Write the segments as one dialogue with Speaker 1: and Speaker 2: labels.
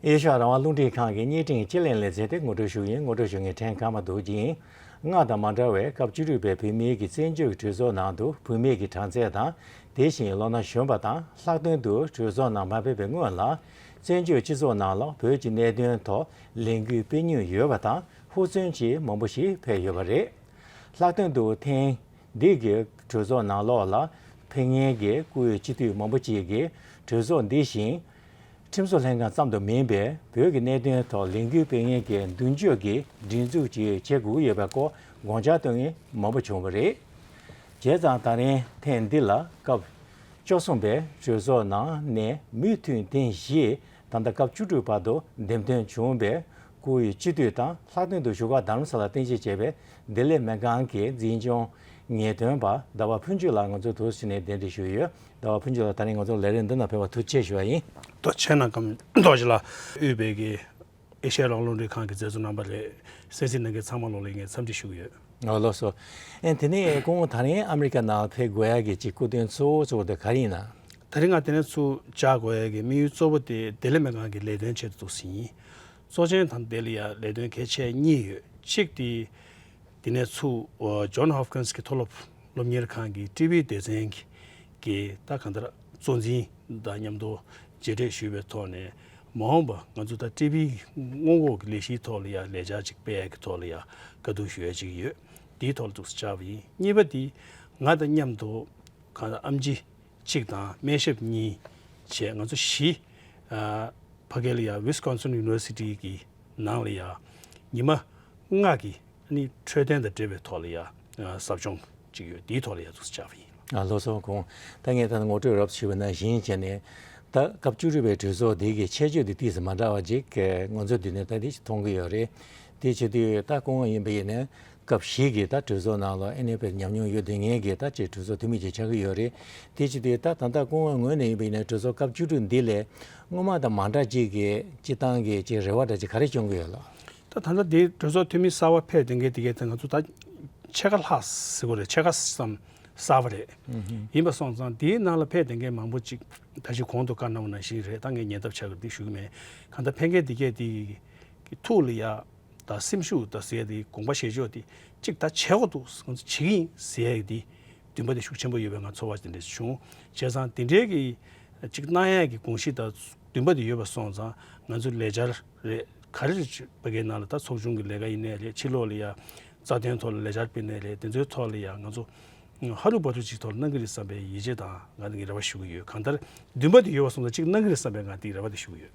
Speaker 1: ཨེ་ཤ་ཡ་རང་དབང་རླུང་འཕྲིན་ཁང་གི་གཉིས་སྤྲིངས་སྤྱི་གླེང་ལས་མཛད་དེ་ངོ་སྤྲོད་ཞུ་ཡིན་ངོ་སྤྲོད་ཞུ་མཁན་ཕྲན་གང་མ་འདུག་ཅིང། སྔར་དང་མ་འདྲ་བས་སྐབས་བཅུ་དྲུག་པའི་བུད་མེད་ཀྱི་བཙན་བྱོལ་གྱི་གྲོས་ཚོགས་ནང་དུ་བུད་མེད་ཀྱི་གྲངས་ཚད་དང་དེ་བཞིན་ལོ་ན་གཞོན་པ་དང་ལྷག་དོན་དུ་གྲོས་ཚོགས་ནང་མ་ཕེབས་པའི་སྔོན་ལ་བཙན་བྱོལ་སྤྱི་ཚོགས་ནང་ལ་བོད་ཀྱི་གནད་དོན་ཐོག་ལས་འགུལ་སྤེལ་མྱོང་ཡོད་པ་དང་ཧུར་བརྩོན་གྱིས་མང་པོ་ཞིག་ཕེབས་ཡོད་པ་རེད། ལྷག་དོན་དུ་ཐེངས་འདིའི་གྲོས་ཚོགས་ནང་ལོགས་ལ་ཕེབས་ངེས་ཀྱི་བཀུར་འོས་སྤྱི་འཐུས་མང་པོ་ཅིག་གིས་གྲོས་ཚོགས་འདི་བཞིན། ཁྲིམས་བཟོ་ལྷན་ཁང་ཙམ་དུ་མིན་པའི་བོད་ཀྱི་གནད་དོན་ཐོག་ལས་འགུལ་སྤེལ་ངེས་ཀྱི་མདུན་སྐྱོད་ཀྱི་སྒྲིག་འཛུགས་ཅིག་བྱེད་དགོས་ཀྱི་ཡོད་པའི་སྐོར་དགོངས་འཆར་གཏོང་མཁན་མང་པོ་བྱུང་བ་རེད། བྱས་ཙང་ད་རིང་ཐེངས་འདི་ལ་སྐབས་བཅོ་གསུམ་པའི་གྲོས་ཚོགས་ནང་ནས་མུས་མཐུན་ཐེངས་བཞི་དང་ད་སྐབས་བཅུ་དྲུག་བར་དུ་འདེམས་ཐོན་བྱུང་བའི་སྐུ་ཡི་སྤྱི་བསྟོད་དང་ལྷག་དོན་དུ་ཞུ་བ་དར་མ་ས་ལ་བརྟན་ཆེད་བྱས་པའི་བདེ་ལེགས་སྨན་ཁང་གི་འཛིན་སྐྱོང། ངེས་དོན་པ་ཟླ་བ་ཕུན་ཆོད་ལགས་ང་ཚོའི་དུར་སྲི་ནས་གདན་འདྲེན་ཞུས་ཡོད། ཟླ་བ་ཕུན་ཆོད་ལགས་ད་རིང་ང་ཚོར་ལས་རེས་འདི་ན་ཕེབས་པར་ཐུགས་ཆེ་ཞུ་བ་ཡིན། རྡོ་ཆེན་ནང་
Speaker 2: ཁམས་རྡོ་རྗེ་ལགས། དབུས་བོད་ཀྱི་ཨེ་ཤ་ཡ་རོང་ལུང་རིགས་ཁང་གི་མཛད་གཙོ་རྣམ་པ་རེད། གསན་གཟིགས་གནང་མཁན་ཚང་མ་ལོག་ལེགས་ངས་འཚམས་འདྲི་ཞུ་གི་ཡོད། ངོ་ལོག་སོ།
Speaker 1: ཨེ་དེ་ནས་སྐུ་ངོ་ད་རིང་ཨ་མི་རི་ཀ་ནང་ཕེབས་དགོས་ཡག་གི་གཅིག་སྐུ་དོན་གཙོ་བོ་གཙོ་བོ་དེ་ག་རེ་ཡིན་ན། ད་རིང་ང་དེ་ནས་ཚུར་
Speaker 2: བཅར་དགོས་ཡག་གི་དམིགས་ཡུལ་གཙོ་བོ་དེ་བདེ་ལེགས་སྨན་ཁང་གི་ལས་དོན་ཆེད་དུ་འདུག་ཟིན། གཙོ་ཆེན་དང་སྡེ་ལ་ཡང་ལས་དོན་གལ་ཆེན་གཉིས་ཡོད་གཅིག་དེ་དེ་ནས་ཚུགས John Hopkins གྱི་མཐོ་སློབ་སློབ་གཉེར་ཁང་གི་ཀྲི་བྷི་སྡེ་ཚན་གྱི་ད་ག་ཟླར་གཙོ་འཛིན་དང་མཉམ་དུ་མཇལ་འཕྲད་ཞུས་པའི་ཐོག་ནས་མ་འོངས་པ་ང་ཚོ་ད་ཀྲི་བྷི་སྔོན་འགོག་གི་ལས་གཞིའི་ཐོག་ལ་ཡང་ལས་འཆར་གཅིག་སྤེལ་གྱི་ཐོག་ལ་ཡང་དཀའ་སྡུག་ཞུ་ཡ་གཅིག་ཡོད་དེའི་ཐོག་ལ་འཛུགས་ས་ཆགས་པ་ཡིན་གཉིས་པ་དེ་ང་དང་མཉམ་དུ་གང་ལྟར་ཨམ་ཅི་གཅིག་དང་སྨན་ཞབས་གཉིས་བཅས་ང་ཚོ་བཞི། ཕ་སྐད་ལ་ཡང Wisconsin University གི་ནང་ལ་ཡང་ཉི་མ་ལྔ་གི་འཕྲོད་བསྟེན་དང་འབྲེལ་བའི་ཐོག་ལ་ཡང་ཟབ་སྦྱོང་གཅིག་ཡོད་དེའི་ཐོག་ལ་ཡང་ཚུགས་སུ་བཅར་བ་ཡིན། ལོ་ཚོད་གོང་
Speaker 1: ད་ངས་ད་ངོ་སྤྲོད་རོབས་བྱས་པའི་ནང་བཞིན་བྱས་ནས་ད་སྐབས་བཅུ་དྲུག་པའི་གྲོས་ཚོགས་དེ་གི་ཆད་གཅོད་དེ་དུས་སུ་མ་འདྲ་བ་ཅིག་ང་ཚོ་དུས་ནས་ད་དེ་མཐོང་གི་ཡོད་རེད་དེ་བྱེད་དུས་ད་སྐུ་ངོ་ཡིན་པ་ཡིན་ན་སྐབས་ཤིག་གི་ད་གྲོས་ཚོགས་ནང་ལ་ཨེ་ནས་པའི་ཉམས་མྱོང་ཡོད་དེ་ངས་གི་ད་བཅས་གྲོས་ཚོགས་འཐུས་མི་བཅས་ཆགས་ཀྱི་ཡོད་རེད་དེ་ཅི་སྟེ་ད་ད་ལྟ་སྐུ་ངོ་ངོས་ནས་ཡིན་པ་ཡིན་ན་གྲོས་ཚོགས་སྐབས་བཅུ་དྲུག་འདི་ལས་སྔོན་མ་དང་མ་འདྲ་གཅིག་གི་སྤྱི་བཏང་གི་ཅིག་རེ་བ་འདྲ་ཅིག་ག་རེ་བྱུང་གི་ཡོད་ལགས། ད་ད་ལྟ་འདིའི་
Speaker 2: གྲོས་ཚོགས་འཐུས་མི་གསར་བ་ཕེབས་དེ་གས་དེ་གས་ད་ང་ཚོ་ད་ཕྱེད་ཀ་ལྷག་ཟེར་དགོས་རེད་ཕྱེད་ཀ་ཙམ་གསར་བ་རེད་ཡིན་པ་སོང་ཙང་དེའི་ནང་ལ་ཕེབས་དེ་གས་མང་པོ་ཅིག་ད་ཅིག་གོང་དུ་བཀའ་གནང་བ་ནང་བཞིན་རེད་ད་ངས་ཉན་ཐབས་ཆགས་ཀྱི་འདུག་ཞུ་གི་མེད་གང་ལྟར་ཕེབས་མཁན་དེ་གས་དེ་གི་ཐུགས་ལ་ཡག་ད་སེམས་ཤུགས་ད་ཟེར་དེ་དགོངས་པ་བཞེས་ཕྱོགས་དེ་གཅིག་ད་བྱས་འོག་ཏུ་ང་ཚོ་བྱེད་ཀྱི་ཡིན་ཟེར་ཡག་དེ་འདུན་པ་དེ་ཤུགས་ཆེན་པོ་ཡོད་པའི་ང་ཚོ་བར་དེ་འདྲ་བྱུང། བྱས་ཙང་དེ་འདྲའི་གི་གཅིག་སྣང་ཡག་གི་དགོངས་གཞི་ད་འདུན་པ་དེ་ཡོད་པ་སོང་ཙང་ང་ཚོ་ལས་འཆར་རེད་ག་རེ་རེད་བོད་སྐད་ནང་ལ་ད་ཚོགས་ཆུང་གི་ལས་ཀ་ཡིན་ནའི་རེད་ཕྱི་ལོག་ལ་ཡང་རྩ་དོན་ཐོག་ལ་ལས་འཆར་སྤེལ་ནའི་རེད་དེ་ཚོའི་ཐོག་ལ་ཡང་ང་ཚོ་ཧ་ལུ་པ་ལུ་ཅིག་ཐོག་ལ་གནང་གི་རེད་བསམ་པའི་ཡིད་ཆེས་དང་ང་ནི་ངས་རེ་བ་ཞུ་གི་ཡོད་གང་ལྟར་འདུན་པ་དེ་ཡོད་པ་སོང་ཙང་གཅིག་གནང་གི་རེད་བསམ་པའི་ང་དེ་རེ་བ་དེ་ཞུ་གི་ཡོད།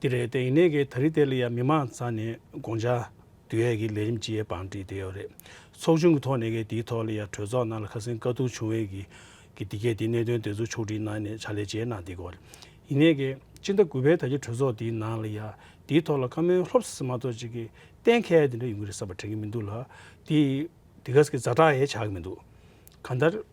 Speaker 2: དེ་རེད་དེ་ཡིན་ནའི་གི་ད་རི་དེ་ལ་ཡ་མི་མང་ཚ་ནས་དགོངས་འཇགས་དུ་ཡ་གི་ལས་རིམ་ཅི་ཡ་བང་བྲིས་དེ་ཡོད་རེད་ཚོགས་ཆུང་གི་ཐོག་ནས་གི་དེའི་ཐོག་ལ་ཡ་གྲོས་ཚོགས་ནང་ལ་ཁ་སེང་དཀའ་སྡུག་བྱུང་བའི་གི་གི་དེ་གས་དེ་གནད་དོན་དེ་ཚོ་ཕྱོགས་བསྒྲིགས་གནང་ནས་བྱ་ལས་བྱས་གནང་དེ་གོ་ཡིན་ནའི་གི་སྤྱི་ཟླ་དགུ་པའི་ད་གི་གྲོས་ཚོགས་དེའི་ནང་ལ་ཡ་དེའི་ཐོག་ལ་བཀའ་མོལ་ལྷོབ་སེ་སེ་མ་ཏོག་ཅིག་གི་གཏན་ཁེལ་དེ་འདྲ་ཡོང་གི་རེད་བསམ་པ་དྲན་གི་མི་འདུག་ལ་དེ་དེ་གས་གི་ཛ་དྲག་ཡ་ཆགས་གི་མི་འདུག་གང་ལྟར།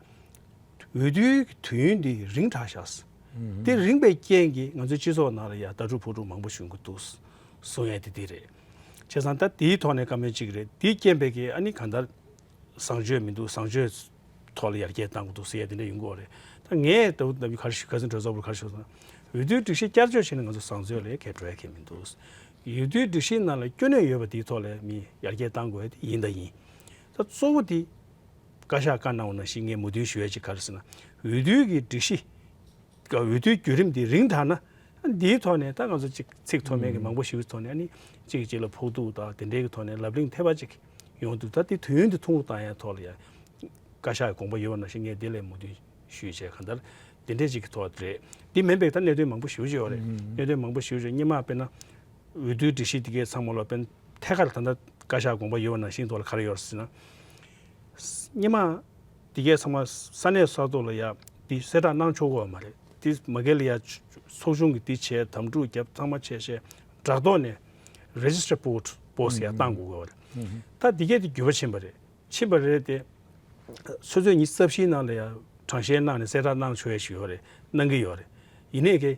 Speaker 2: འོས་བསྡུའི་དུས་ཡུན་འདི་རིང་དྲག་ཤག་འདི་རིང་པའི་རྐྱེན་གྱིས་ང་ཚོའི་སྤྱི་ཚོགས་ནང་ལ་ཡང་ལྟ་གྲུབ་ཕོག་ཐུག་མང་པོ་བྱུང་གི་འདུག་གསུང་ཡ་དེ་འདི་རེད། བྱས་ཙང་ད་དེའི་ཐོག་ནས་བཀའ་མོལ་གཅིག་རེད་དེའི་རྐྱེན་པས་ཀྱི་ཨ་ནི་གང་ལྟར་བཟང་སྤྱོད་མི་འདུག་བཟང་སྤྱོད་ཐོག་ལ་ཡར་རྒྱས་བཏང་གི་འདུག་ཟེར་ཡ་དེ་འདྲ་ཡོང་གི་འོག་རེད། ད་ངས་ད་བུ་འདམ་གྱི་ཁར་ཞུ་ཁ་ཟིན་བྲོ་བཟའ་བོར་ཁར་ཞུ་ཙང་འོས་བསྡུའི་སྒྲིག་གཞི་བསྐྱར་བཅོས་བྱས་ན་ང་ཚོ་བཟང་སྤྱོད་ལས་ཁེ་བྲོ་ཡ་ཁེ་མི་འདུག་འོས་བསྡུའི་སྒྲིག་གཞིའི་ནང་ལ་སྐྱོན་ནུས་ཡོད་པ་དེའི་ཐོག་ལ་མི་ཡར་རྒྱས་བཏང་དགོས་ཡ་དེ་ཡིན་ད་ཡིན། ད་གཙོ་བོ་དེ། བཀའ་ཤག་བཀའ་གནང་བ་ནང་བཞིན་ངས་མོས་མཐུན་ཞུ་ཡ་ཅིག་ག་རེ་ཟེར་ན། འོས་བསྡུའི་གི་སྒྲིག་གཞི། འོས་བསྡུའི་བརྒྱུད་རིམ་དེ་རིང་དག་ན། འདིའི་ཐོག་ནས་ད་ང་ཚོ་ཅིག་ཚིག་མཐོ་དམན་གི་མང་པོ་ཞིག་གི་ཐོག་ནས་ནི། ཅིག་ཅིག་ལ་ཕོག་ཐུག་དང་དེ་འདྲའི་གི་ཐོག་ནས་ལབ་གླེང་ཐེབས་པ་ཅིག་ཡོང་འདུག་ད་དེ་དུས་ཡུན་དེ་ཐུང་རུ་བཏང་ཡ་ཐོག་ལ་ཡ། བཀའ་ཤག་གི་དགོངས་པ་ཡོད་པ་ནང་བཞིན་ངས་དེ་ལས་མོས་མཐུན་ཞུ་ཡ་ཅིག་ག་འདར། དེ་འདྲའི་ཅིག་གི་ཐོག་རེད། དེ་མིན་པའི་ད་གནད་དོན་མང་པོ་ཞུ་བྱས་ཡོད་རེད། གནད་དོན་མང་པོ་ཞུ་བྱས་གཉིས་མ་དཔེར་ན། འོས་བསྡུའི་སྒྲིག་གཞི་དེ་གའི་ཚང་མ་ལ་དཔེར་ན་ཐད་ཀར་ད་ད་བཀའ་ཤག་དགོངས་པ་ཡོད་པ་ནང་བཞིན་ཐོག་ལ་ག་རེ་ཡོད་རེ་ཟེར་ན། སྙེ་མ། འདི་གས་ཚང་མ་ས་གནས་ས་ཐོག་ལ་ཡ་འདི་གསལ་བསྒྲགས་གནང་ཆོག་གོ་བ་མ་རེད་འདི་མ་གལ་ལ་ཡ་ཚོགས་ཆུང་གི་འདི་བྱས་དམ་འཁྲུག་རྒྱབ་ཚང་མ་བྱས་ཤེས་སྦྲགས་ཐོག་ནས Register Post Post ཡ་གཏང་དགོས་གོ་བ་རེད་ད་འདི་གས་འདི་འགྱོད་པ་ཕྱིན་པ་རེད་ཕྱིན་པ་རེད་དེ། ཚོད་ཚོད་ཉིད་རྩ་བཞིའི་ནང་ལ་ཡ་དྲང་བཞེས་གནང་ནས་གསལ་བསྒྲགས་གནང་ཆོག་ཡ་ཞིག་ཡོད་རེད་གནང་གི་ཡོད་རེད་ཡིན་ནའི་ཀྱེ།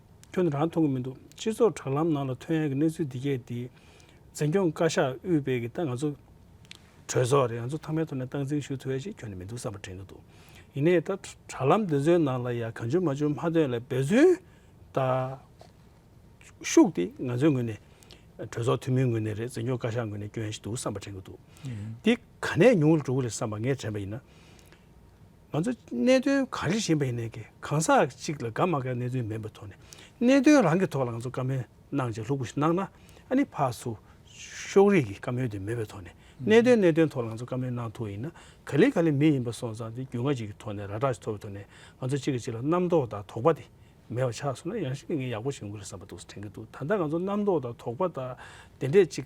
Speaker 2: ཁྱོད་རང་མཐོང་གི་མི་འདུག་སྤྱི་ཚོགས་དྲ་ལམ་ནང་ལ་ཐོན་ཡ་གི་གནས་ཚུལ་འདི་སྐད་དེ། འཛིན་སྐྱོང་བཀའ་ཤག་དབུས་པའི་གི་ད་ང་ཚོ་གྲོས་ཚོགས་རེད་ང་ཚོ་ཐང་མའི་ཐོག་ནས་སྟངས་འཛིན་ཞུ་ཐུབ་ཡ་ཞིག་ཁྱོན་ནས་མི་འདུག་བསམ་པ་དྲན་གི་འདུག་ཡིན་ནའི་ད་དྲ་ལམ་འདི་ཚོའི་ནང་ལ་ཡ་གང་བྱུང་མ་བྱུང་མ་ཐོན་ལ་འབད་བརྩོན་ད་ཤུགས་དེ་ང་ཚོའི་ངོས་ནས་གྲོས་ཚོགས་འཐུས་མིའི་ངོས་ནས་རེད་འཛིན་སྐྱོང་བཀའ་ཤག་ངོས་ནས་སྐྱོན་ཡ་ཞིག་འདུག་བསམ་པ་དྲན་གི་འདུག་འདི་ག་ནས་ཉུང་ལ་འགྲོ་གི་རེད་བསམ་པ་ངས་དྲན་པ་ཡིན་ན། ང་ཚོ་གནད་དོན་ག་རེ་བཞིན་པ་ཡིན་ནའི་ཀྱི་གང་ཟག་གཅིག་ལ་དགའ་མ་དགའ་གནད་དོན་མིན་པའི་ཐོག་ནས་གནད་དོན་རང་གི་ཐོག་ལ་ང་ཚོ་བཀའ་མོལ་གནང་ཅིག་ལྷུག་པོ་ཞིག་གནང་ན་ཨ་ནི་ཕག་སུ་ཤོག་རིགས་ཀྱི་བཀའ་མོལ་དེ་མེད་པའི་ཐོག་ནས་གནད་དོན་གནད་དོན་ཐོག་ལ་ང་ཚོ་བཀའ་མོལ་གནང་ཐུབ་པ་ཡིན་ན་ག་ལེ་ག་ལེ་མི་ཡིན་པ་སོང་ཙང་དེ་རྒྱུས་མངའ་ཅིག་གི་ཐོག་ནས་ར་སྒྲག་ཅིག་ཐོབ་པའི་ཐོག་ནས་ང་ཚོ་གཅིག་གི་གཅིག་ལ་རྣམ་རྟོག་དང་དོགས་པ་དེ་མེད་པ་ཆགས་སོང་ན་ཡང་ཞིག་ངས་ཡག་པོ་ཞིག་ཡོང་གི་རེད་བསམ་པ་འདུག་དྲན་གྱི་འདུག་ད་ལྟ་ང་ཚོ་རྣམ་རྟོག་དང་དོགས་པ་དང་དེ་འདྲས་ཅིག་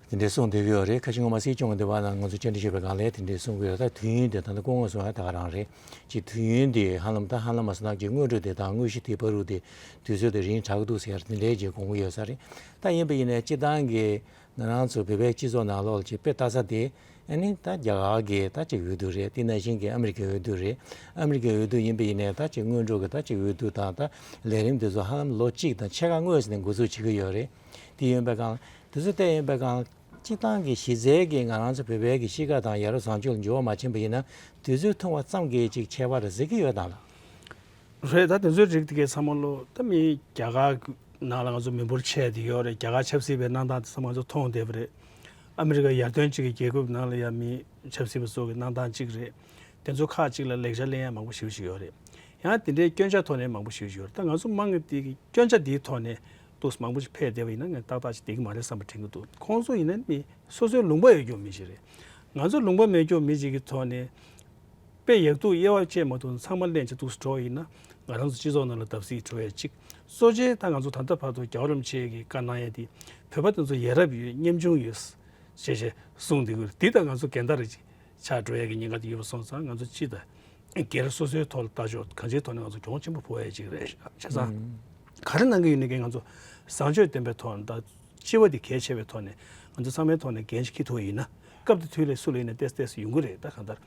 Speaker 1: དེ་འདྲའི་གསུང་འདོད་ཀྱི་ཡོད་རེད་ཁ་ཆེ་ངོ་མ་སྲིད་སྐྱོང་གི་འདི་བ་ན་ང་ཚོ་བཅར་འདྲི་ཞུས་པའི་སྒང་ལས་དེ་འདྲའི་གསུང་གི་ཡོད་ད་དུས་ཡུན་དེ་ད་ནི་སྐུ་ངོ་སོང་ཡ་ད་ག་རང་རེད་ཅེས་དུས་ཡུན་དེ་ཧ་ལམ་ད་ཧ་ལམ་མ་སོང་ད་ཀྱི་དངོས་གྲུབ་དེ་དང་དངོས་གཞི་དེའི་བ་རུ་དེ་དུས་ཚོད་དེ་རིང་དྲག་གི་འདུག་ཟེར་ཡར་དེ་འདྲའི་རྗེས་དགོངས་ཀྱི་ཡོད་ས་རེད་ད་ཡིན་པ་ཡིན་ནའི་སྤྱི་བཏང་གི་ང་རང་ཚོ་བོད་པའི་སྤྱི་ཚོགས་ནང་ལོག་ལ་ཆེས་དཔེ་ལྟ་ས་དེ་ཨ་ནི་ད་རྒྱ་གར་གི་ད་ཅིག་འོས་བསྡུ་རེད་དེ་ནང་བཞིན་གྱི་ཨ་མི་རི་ཀའི་འོས་བསྡུ་རེད་ཨ་མི་རི་ཀའི་འོས་བསྡུ་ཡིན་པ་ཡིན་ནའི་ད་ཅིག་དངོས་གྲུབ་ཀྱི་ད་ཅིག་འོས་བསྡུ་དང་ད་ལས་རིམ་དེ་ཚོ་ཧ་ལམ་ལོ་གཅིག་དང་ཕྱེད་ཀ་དངོས་ནས་འགོ་ཚུགས་བྱེད་ཀྱི་ཡོད་རེད། འདི་ཡོན་པའི་སྒང། དེ་ཚོ་བལྟས་ཡོན་པའི་སྒང། སྤྱི་བཏང་གི་གཞི་རྩའི་གི་ང་རང་ཚོ་བོད་པའི་གི་གཤིས་ཀ་དང་ཡ་རབས་བཟང་སྤྱོད་ལ་འགྱུར་བ་མ་ཕྱིན་པ་ཡིན་ན་དེ་ཚོའི་ཐུང་བ་ཙམ་གི་ཅིག་ཁྱད་པར་ཟེར་གི་ཡོད་དང་ལགས།
Speaker 2: རེད་ད་དེ་ཚོའི་རིགས་དེ་གས་ཚང་མ་ལོ་ད་མི་རྒྱ་གར་ནང་ལ་ང་ཚོ་མི་འབོར་ཆེ་དེ་ཡོད་རེད་རྒྱ་གར་ཆབ་སྲིད་པའི་གནང་སྟངས་དེ་ཚང་མ་ང་ཚོ་མཐོང་བསྡད་པ་རེད། ཨ་མི་རི་ཀ་ཡར་ཐོན་ཅིག་གི་རྒྱལ་ཁུབ་ནང་ལ་ཡ་མི་ཆབ་སྲིད་པ་ཚོ་གི་གནང་སྟངས་ཅིག་རེད། དེ་ཚོ་ཁག་ཅིག་ལ་ལེགས་ཆ་གླེང་ཡ་མང་པོ་ཞིག་ཞིག་ཡོད་རེད། ཡང་དེ་འདྲའི་སྐྱོན་ཆ་ཐོག་ནས་མང་པོ་ཞིག་ཞིག་ཡོད་རེད་ད་ང་ཚོ་དམངས་ཀི་དེ་གི་སྐྱོན་ཆ་དེའི་ཐོག་ནས་ཏོག་མང་པོ་ཞིག་འཕེལ་བསྡད་པ་ཡིན་ན་ང་ཏག་ཏག་ཅིག་བསྡད་ཀྱི་མ་རེད་བསམ་པ་དྲན་གྱི་འདུག་ཁོང་ཚོ་ཡིན་ན་ནི་སོ་སོའི་ལུང་པ་ཡོད་སྐྱོང་མི་ཞིག་རེད། ང་ཚོ་ལུང་པ་མེད་སྐྱོང་མི་ཞིག་གི་ཐོག་ནས། དཔེ་ཡག་སྡུག་དབྱེ་བ་བཅད་མ་ཐུབ་ན་ཚང་མ་གླེན་ཆ་དུག་སུ་བྲོ་བ་ཡིན་ན། ང་རང་ཚོ་སྤྱི་ཚོགས་ནང་ལ་བརྡབ་གསིག་བྲོ་བས་ཅི། གཙོ་ཆེ་ད་ང་ཚོ་ད་ལྟ་བར་དུ་རྒྱ་བ་རམ་ཆས་ཀྱི་བཀའ་གནང་ཡས་དེ། བོད་པ་དེ་ཚོ་ཡས་རབ་ཡོད་སྙེམས་ཆུང་ཡོད། ཞེས་ཞེས་གསུངས་འདི་ཀུ་འདི་ད་ང་ཚོ་འགལ་ཟླ་རེད་ཅིག་ཆགས་བྲོ་ཡས་ཀྱི་ཉེན་ཁ་དེ་ཡོད་པ་སོང་ཙང་ང་ཚོ་སྤྱི་ད། སྒེར་སོ་སོའི་ཐོག་ལ་ལྟ་ཆོག་གང་ཅིའི་ཐོག་ནས་ང་ཚོ་གྱོང་ཆེན་པོ་འཕོ་བ་ཡ་གཅིག་རེད་ཆ་ཚང་ག་རེ་གནང་གི་ཡོད་ནི་ང་ཚོ་བཟང་སྤྱོད་ལྡན་པའི་ཐོག་ནས་དང་སྤྱི་བ་དེ་གལ་ཆེ་བའི་ཐོག་ནས་ང་ཚོ་ཚང་མའི་ཐོག་ནས་འགན་ཞིག་ཁྱི་ཐུག་ཡིན་ན་སྐབས་དེ་དུས་ལས་སུ་ལས་ནས་བལྟས་བལྟས་སུ་ཡོང་གི་རེད་ད་གང་ལྟར་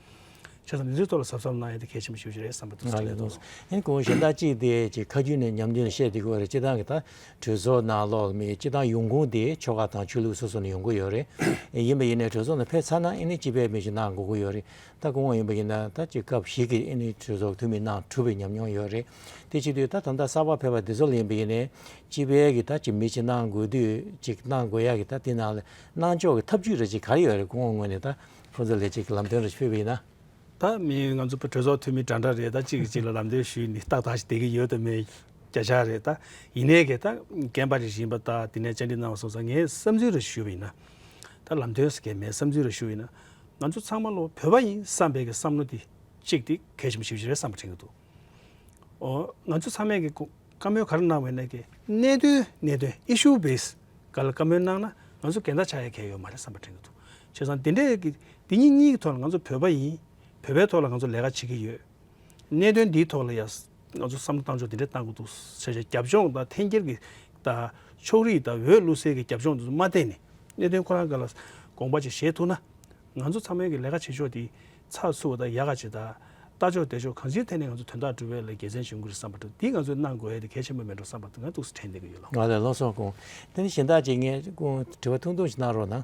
Speaker 2: ཆ་ཚང་འདི་ཚོའི་ཐོག་ལ་ཟབ་ཟབ་གནང་ཡ་དེ་གལ་ཆེན་པོ་ཞིག་ཡོད་རེད་བསམ་པ་ང་ལས་ཐོག་ཨན་གོང་གཞན་དག་
Speaker 1: ཅིག་དེ་ཅིག་ཁ་རྒྱུན་ནས་ཉམས་རྒྱུན་ལ་བཤད་དེ་གོ་རེད་སྤྱི་བཏང་གི་ད་གྲོས་ཚོགས་ནང་ལོག་ལ་མི་སྤྱི་བཏང་ཡོང་ཁུངས་དེ་ཆོལ་ཁ་དང་ཆོས་ལུགས་སོ་སོ་ནས་ཡོང་གི་ཡོད་རེད་ཡིན་པ་ཡིན་ནས་གྲོས་ཚོགས་ནང་ཕེབས་ཚར་ན་ཨན་ནི་སྤྱི་པའི་མི་ཞིག་གནང་དགོས་ཀྱི་ཡོད་རེད་ད་དགོངས་བ་ཡིན་པ་ཡིན་ན་ད་ཅི་སྐབས་ཤིག་གི་ཨེ་ནི་གྲོས་ཚོགས་འཐུས་མི་ནང་གྲུབ་པའི་ཉམས་མྱོང་ཡོད་རེད་དེ་ཕྱི་དུས་ད་དམ་དག་གསར་པ་ཕེབས་པ་འདི་ཚོ་ལ་ཡིན་པ་ཡིན་ནའི་སྤྱི་བལ་གི་ད་ཅི་མི་ཅི་གནང་དགོས་དུས་ཅི་གནང་དགོས་ཡག་གི་ད་དེ་ནང་ལ་གནང་ཕྱོགས་གི་ཐབས་ཇུས་རེ་ཅི་ག་རེ་ཡོད་རེད་དགོངས་བ་ངོས་ནས་ད་ཁོང་ཚོ་ལས་ཅི་གི་ལམ་སྟོན་རེ་ཕྱི་ཕེབས་པ་ཡིན་ན། ད་མི་
Speaker 2: ང་ཚོ་གྲོས་ཚོགས་འཐུས་མི་འདྲ་འདྲ་རེད་ད་ཅི་གི་ཅི་ལ་ལམ་སྟོན་ཞུས་ནི་ད་དག་ཅི་བསྡད་གི་ཡོད་དམ་མེད་བརྒྱ་ཆ་རེད་ད་ཡིན་ནའི་གི་ད་རྒན་པ་རེ་ཞིག་ཡིན་པ་ད་དེ་ནས་བཅར་འདྲི་གནང་བ་སོང་ཙང་ངས་བསམ་ཚུལ་རེ་ཞུས་པ་ཡིན་ན་ད་ལམ་སྟོན་ཟེར་གི་མེད་བསམ་ཚུལ་རེ་ཞུས་ཡིན་ན་ང་ཚོ་ཚང་མ་བློ་བོད་པ་ཡིན་བསམ་པའི་བསམ་བློ་དེ་གཅིག་དེ་གལ་ཆེན་པོ་ཞིག་རེད་བསམ་པ་དྲན་གྱི་འདུག་ཨོ། ང་ཚོ་ཚང་མས་བཀའ་མོལ་ག་རེ་གནང་བའི་གནད་དོན་གནད་དོན Issue Base ག་ལ་བཀའ་མོལ་གནང་ན་ང་ཚོ་འགལ་ཟླ་ཆགས་ཡ་གལ་ཡོད་མ་རེད་བསམ་པ་དྲན་གྱི་འདུག་བྱས་ཙང་དེ་འདྲའི་གི་དེ་གཉིས་གཉིས་ཀྱི་ཐོག་ལ་ང་ཚོ་བོད་པ་ཡིན་བོད་པའི་ཐོག་ལ་ང་ཚོ་ལས་ཀ་བྱེད་ཀྱི་ཡོད། གནད་དོན་འདིའི་ཐོག་ལ་ཡང་ང་ཚོ་བསམ་བློ་གཏང་ཕྱོགས་འདི་འདྲ་གཏང་དགོས་འདུག་ཟེར་བཞིན་རྒྱབ་ལྗོངས་དང་འཐེན་འཁྱེར་གྱི་ཕྱོགས་རིས་དང་འོས་བླུགས་སེལ་གྱི་རྒྱབ་ལྗོངས་དེ་མ་བལྟས་ནས་གནད་དོན་ཁོ་རང་འགའ་ལ་དགོངས་པ་ཅིག་བཞེས་ཐུབ་ན། ང་ཚོ་ཚང་མའི་གི་ལས་ཀ་བྱེད་ཕྱོགས་དེ་ཚགས་ཚུད་བ་དང་ཡག་ག་ཇི་ལྟར་ལྟ་ཕྱོགས་བལྟས་ཕྱོགས་གང་ཅིའི་ཐད་ནས་ང་ཚོ་དོན་དག་འགྲུབ་པའི་ལ་རྒྱལ་མཚན་ཞིག་འགུལ་རེ་བསམ་པ་འདུག་འདི་ང་ཚོས་གནང་དགོས་ཨེ་དེ་གལ་ཆེན་པོ་མེད་འགྲོ་བསམ་པ་ང་ཏུགས་སུ་དྲན་བསྡད་ཀྱི་ཡོད་ལགས། ང་ལ་ལོ་སོགས་དགོངས།
Speaker 1: དེ་ནི་གཞན་དག་ཅིག་ངས་དགོངས་དྲི་བ་ཐུང་ཐུང་ཞིག་གནང་རོགས་གནང།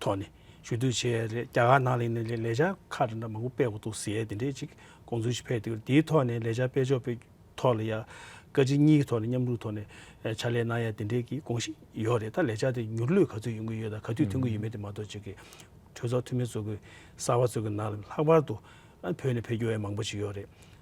Speaker 2: ཐོག་ནས་ཞུ་གཏུག་བྱས་རེད་རྒྱ་གར་ནང་ལས་ནས་ལས་འཆར་ཁག་དེ་འདྲ་མང་པོ་སྤེལ་དགོས་འདུག་ཟེར་དེ་འདྲའི་ཅིག་དགོངས་ཚུལ་ཞིག་ཕེབས་འདུག་དེའི་ཐོག་ནས་ལས་འཆར་སྤེལ་ཕྱོགས་པའི་ཐོག་ལ་ཡང་བཀའ་སྤྱི་གཉིས་ཀྱི་ཐོག་ནས་མཉམ་རུབ་ཐོག་ནས་ཕྱག་ལས་གནང་ཡ་དེ་འདྲའི་གི་དགོངས་གཞི་ཡོད་རེད་ད་ལས་འཆར་དེ་མྱུར་ལུས་ག་ཚོད་ཡོང་གི་ཡོད་དང་ག་དུས་ཐོན་གི་ཡོད་མེད་དེ་མ་གཏོགས་ཅིག་གི་གྲོས་ཚོགས་འཐུས་མི་ཚོ་གི་གསར་བ་ཚོ་གི་ནང་ལ་ལྷག་པར་དུ་བོད་ནས་ཕེབས་རྒྱུ་ཡང་མང་པོ་ཞིག་ཡོད་རེད།